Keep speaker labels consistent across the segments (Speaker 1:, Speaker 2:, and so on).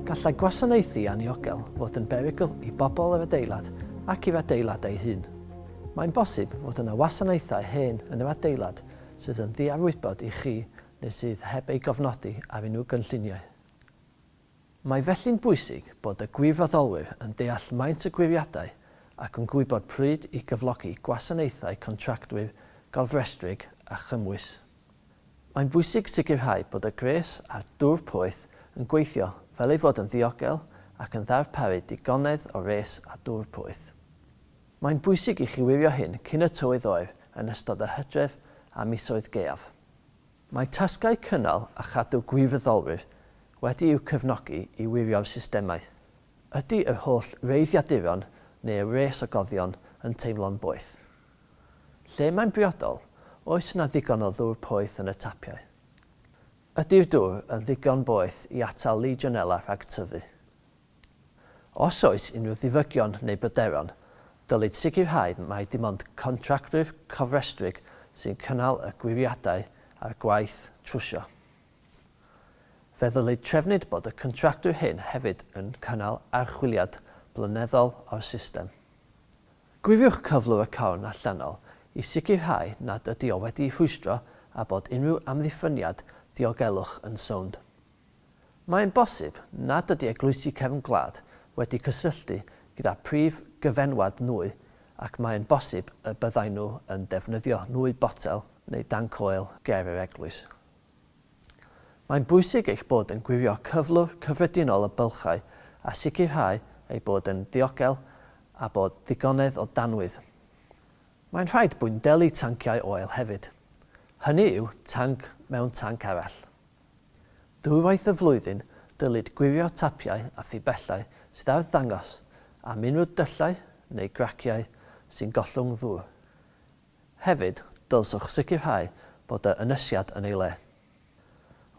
Speaker 1: Gallai gwasanaethu anniogel fod yn berygl i bobl yr adeilad ac i'r adeilad ei hun. Mae'n bosib fod yna wasanaethau hen yn yr adeilad sydd yn ddiarwybod i chi neu sydd heb ei gofnodi ar unrhyw gynlluniau. Mae felly'n bwysig bod y gwirfoddolwyr yn deall maint y gwiriadau ac yn gwybod pryd i gyflogi gwasanaethau contractwyr gofrestrig a chymwys. Mae'n bwysig sicrhau bod y gwres a'r dŵr poeth yn gweithio fel ei fod yn ddiogel ac yn ddarparu digonedd o wres a dŵr poeth. Mae'n bwysig i chi wirio hyn cyn y tywydd oer yn ystod yr hydref a misoedd gaeaf. Mae tasgau cynnal a chadw gwirfoddolwyr wedi'u cefnogi i wirio'r systemau. Ydy yr holl wreiddiaduron neu'r wres o goddion yn teimlo'n boeth? Lle mae'n briodol, oes yna ddigon o ddŵr poeth yn y tapiau? Ydy'r dŵr yn ddigon boeth i atal Legionella rhag tyfu? Os oes unrhyw ddiwygion neu bryderon, dylid sicrhau mai dim ond contractwyr cofrestrig sy'n cynnal y gwiriadau a'r gwaith trwsio. Fe ddylid trefnu'd bod y contractwyr hyn hefyd yn cynnal archwiliad blynyddol o'r system. Gwiriwch cyflwr y corn allanol i sicrhau nad ydi o wedi'i rhwystro a bod unrhyw amddiffyniad diogelwch yn sownd. Mae'n bosib nad ydy eglwysi cefn gwlad wedi cysylltu gyda phrif gyfenwad nwy ac mae'n bosib y byddai nhw yn defnyddio nwy botel neu danc oel ger yr eglwys. Mae'n bwysig eich bod yn gwirio cyflwr cyffredinol y bylchau a sicrhau eu bod yn ddiogel a bod digonedd o danwydd. Mae'n rhaid bwyndelu tanciau oel hefyd. Hynny yw, tanc mewn tanc arall. Dwywaith y flwyddyn dylid gwirio tapiau a phibellau sydd ar ddangos a mynwyd dyllau neu graciau sy'n gollwng ddŵr. Hefyd, dylswch sicrhau bod yr ynysiad yn ei le.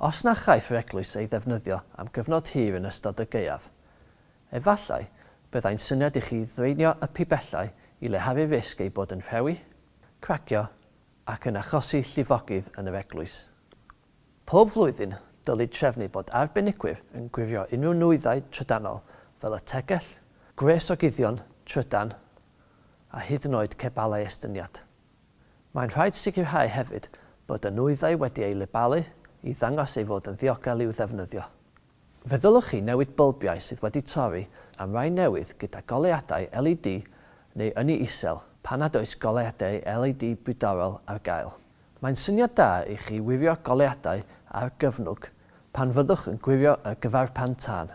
Speaker 1: Os na chaiff yr eglwys ei ddefnyddio am gyfnod hir yn ystod y gaeaf, efallai byddai'n syniad i chi ddraenio y pibellau i leharu'r risg eu bod yn rhewi, cracio ac yn achosi llifogydd yn yr eglwys. Pob blwyddyn, dylid trefnu bod arbenigwyr yn gwirio unrhyw nwyddau trydanol fel y tegell, gwres o guddion trydan a hyd yn oed cebalau estyniad. Mae'n rhaid sicrhau hefyd bod y nwyddau wedi eu lebalu i ddangos ei fod yn ddiogel i'w ddefnyddio. Fe ddylech chi newid bylbiau sydd wedi torri am rai newydd gyda goleuadau LED neu ynni isel pan nad oes goleuadau LED bydorol ar gael. Mae'n syniad da i chi wirio goleuadau ar gyfnwg pan fyddwch yn gwirio y gyfarpan tân.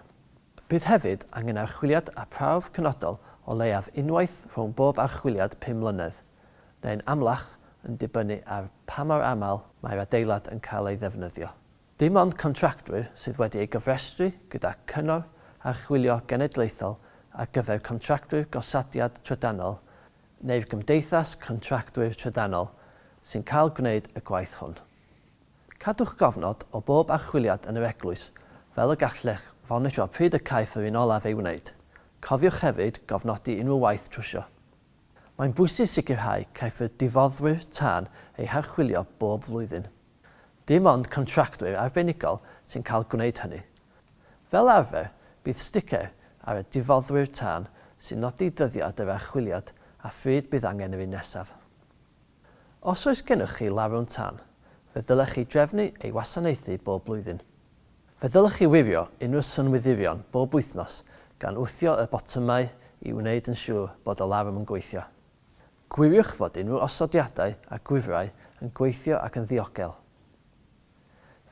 Speaker 1: Bydd hefyd angen archwiliad a prawf penodol o leiaf unwaith rhwng bob archwiliad pum mlynedd, neu'n amlach yn dibynnu ar pa mor aml mae'r adeilad yn cael ei ddefnyddio. Dim ond contractwyr sydd wedi ei gofrestru gyda Cyngor Archwilio Genedlaethol ar gyfer Contractwyr Gosodiad Trydanol neu'r Gymdeithas Contractwyr Trydanol sy'n cael gwneud y gwaith hwn. Cadwch gofnod o bob archwiliad yn yr eglwys fel y gallech fonitro pryd y caiff yr un olaf ei wneud. Cofiwch hefyd gofnodi unrhyw waith trwsio. Mae'n bwysig sicrhau caiff y difoddwyr tân eu harchwilio bob flwyddyn. Dim ond contractwyr arbenigol sy'n cael gwneud hynny. Fel arfer, bydd sticer ar y difoddwyr tân sy'n nodi dyddiad yr archwiliad a phryd bydd angen yr un nesaf. Os oes gennych chi larwm tân, fe ddylech chi drefnu ei wasanaethu bob blwyddyn. Fe ddylech chi wirio unrhyw synwyddion bob wythnos gan wthio y botymau i wneud yn siŵr bod y larwm yn gweithio. Gwiriwch fod unrhyw osodiadau a gwifrau yn gweithio ac yn ddiogel.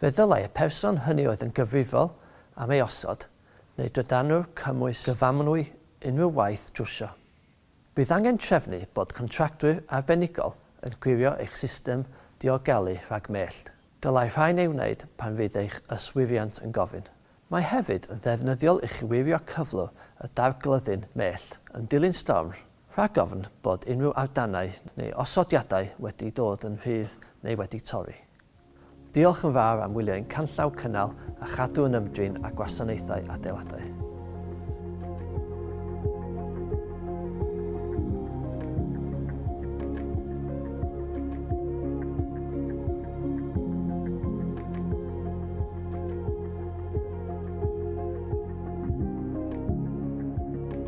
Speaker 1: Fe ddylai y person hynny oedd yn gyfrifol am ei osod neu drydanwr cymwys gyfamrwy unrhyw waith drwsio. Bydd angen trefnu bod contractwyr arbenigol yn gwirio eich system diogelu rhag mellt. Dylai rhain ei wneud pan fydd eich yswiriant yn gofyn. Mae hefyd yn ddefnyddiol i chi wirio cyflwr y darglyddi'n mellt yn dilyn storm Rhag ofn bod unrhyw awdanau neu osodiadau wedi dod yn rhydd neu wedi torri. Diolch yn fawr am wylio ein canllaw Cynnal a Chadw yn Ymdrin â Gwasanaethau Adeiladau.